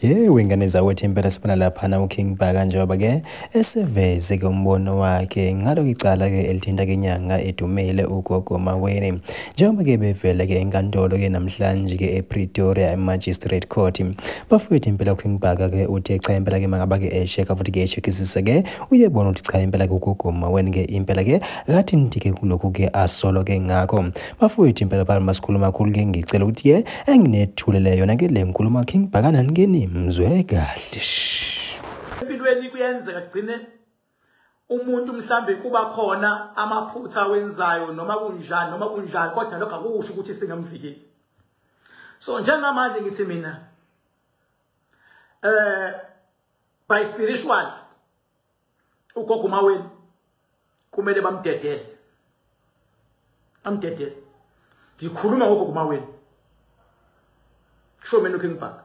yewe ngane zakwethu impela sibona laphana uking bhaka njengoba ke eseveze ke umbono wakhe ngalo icala ke elithinta ke inyanga edumile ugogo maweni njengoba ke bevele ke enkantolo ke namhlanje ke epretoria emagistrate court bafowethu impela uking bhaka ke uthe cha impela ke makaba ke esheka futhi ke eshekisise ke uyebona ukuthi cha impela ke ugogo maweni ke impela ke Ngathi ngidike kulokhu ke asolo ke ngakho. Bafowethu impela phana masikhuluma kakhulu ke ngicela ukuthi ke enginethulele yona ke le nkulumo yakhe ngibhakana ngeni mzwe kahle. Empilweni kuyenzeka kugcine umuntu mhlambe kuba khona amaphutha wenzayo noma kunjani noma kunjani kodwa lokho akusho ukuthi singamvikeli. So njengamanje ngithi mina eh by spiritual ugogo maweni kumele bamdedele bamdedele ngikhuluma ngogogo maweni kusho mina uking bhaka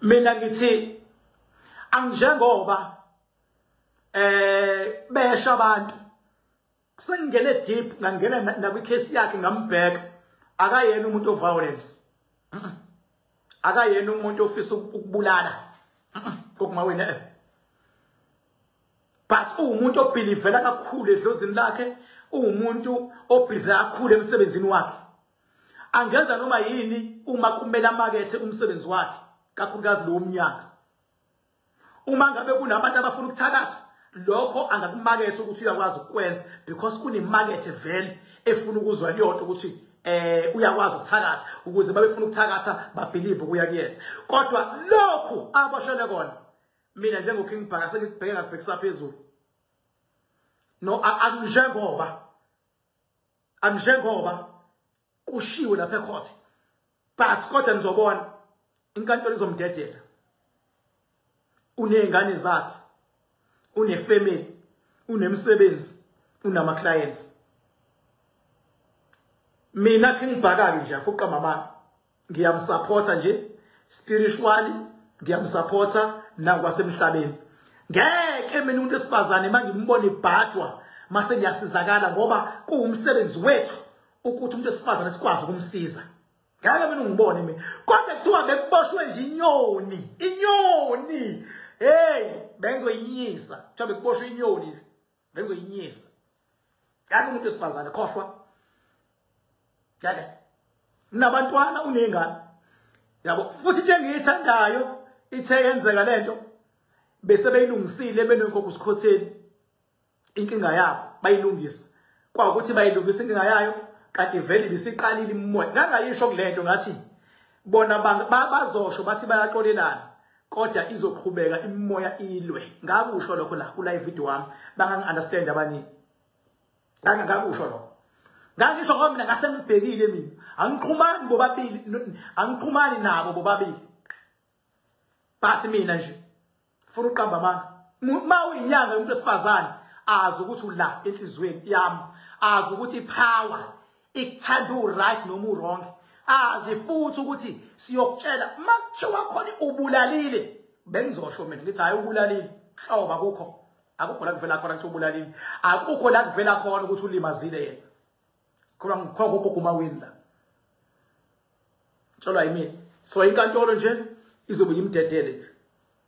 mina ngithi angijengoba eh besha abantu kusengingene deep ngangena nakwicase yakhe ngambheka akayena umuntu oviolence akayena umuntu ofisa ukubulala kokuma wena eh. but uwumuntu obhilivela kakhulu edlozini lakhe uwumuntu obhilivela kakhulu emsebenzini wakhe angenza noma yini uma kumele amakethe umsebenzi wakhe kakhulukazi lo womnyaka uma ngabe kunabantu abafuna ukuthakatha lokho angakumakethe ukuthi uyakwazi ukukwenza because kunemakethe vele efuna ukuzwa liyonto ukuthi eh uyakwazi ukuthakatha ukuze babefuna ukuthakatha babelieve kuya kuyena kodwa lokhu aboshele kona mina njengoking bhaka sengikubheke ngakubhekisa phezulu no angijengoba angijengoba kushiwe lapha ecourt but kodwa nizobona inkantolo izomdedela unezingane zakhe unefamily unemsebenzi unama clients mina ke ngibhaka nje afuqa mama ngiyamsupporta nje spiritually ngiyamsupporta nakwasemhlabeni ngeke mina umuntu esifazane mangimbona ibhajwa mase ngiyasizakala ngoba kuwumsebenzi wethu ukuthi umuntu esifazane sikwazi ukumsiza ngeke mina ungibone mina kodwa kuthiwa bekuboshwe nje inyoni inyoni hey bengizoyinyisa kuthiwa bekuboshwe inyoni bengizoyinyisa ngeke umuntu wesifazane khohlwa ngeke unabantwana uney'ngane yabo futhi into engiyithandayo ithe yenzeka le nto bese beyilungisile benonkoko usikhotheni inkinga yabo bayilungisa kwawukuthi bayilungisa inkinga yayo kanti vele bisiqalile imimoya ngangayisho kule nto ngathi bona bazosho bathi bayaxolelana kodwa izoqhubeka imimoya ilwe ngakusho lokho la kula video wami bangangi understand abanye ngake ngakusho lokho ngangisho ngoba mina ngase ngibhekile mina angiqhumani bobabili angiqhumani nabo bobabili bathi mina nje funa uqamba amanga uma uyinyanga yomuntu wesifazane azi ukuthi ula enhliziyweni yami azi ukuthi ipower ikuthanda uright noma urong azi futhi ukuthi siyokutshela makuthiwa khona ubulalile bengizosho mina ngithi hayi ubulalile hloba kukho akukho la kuvela khona ukuthi ubulalile akukho la kuvela khona ukuthi ulimazile yena khona ngikhokho kuguma wini la tsholwa yimina so inkantolo nje izobe yimdedele nje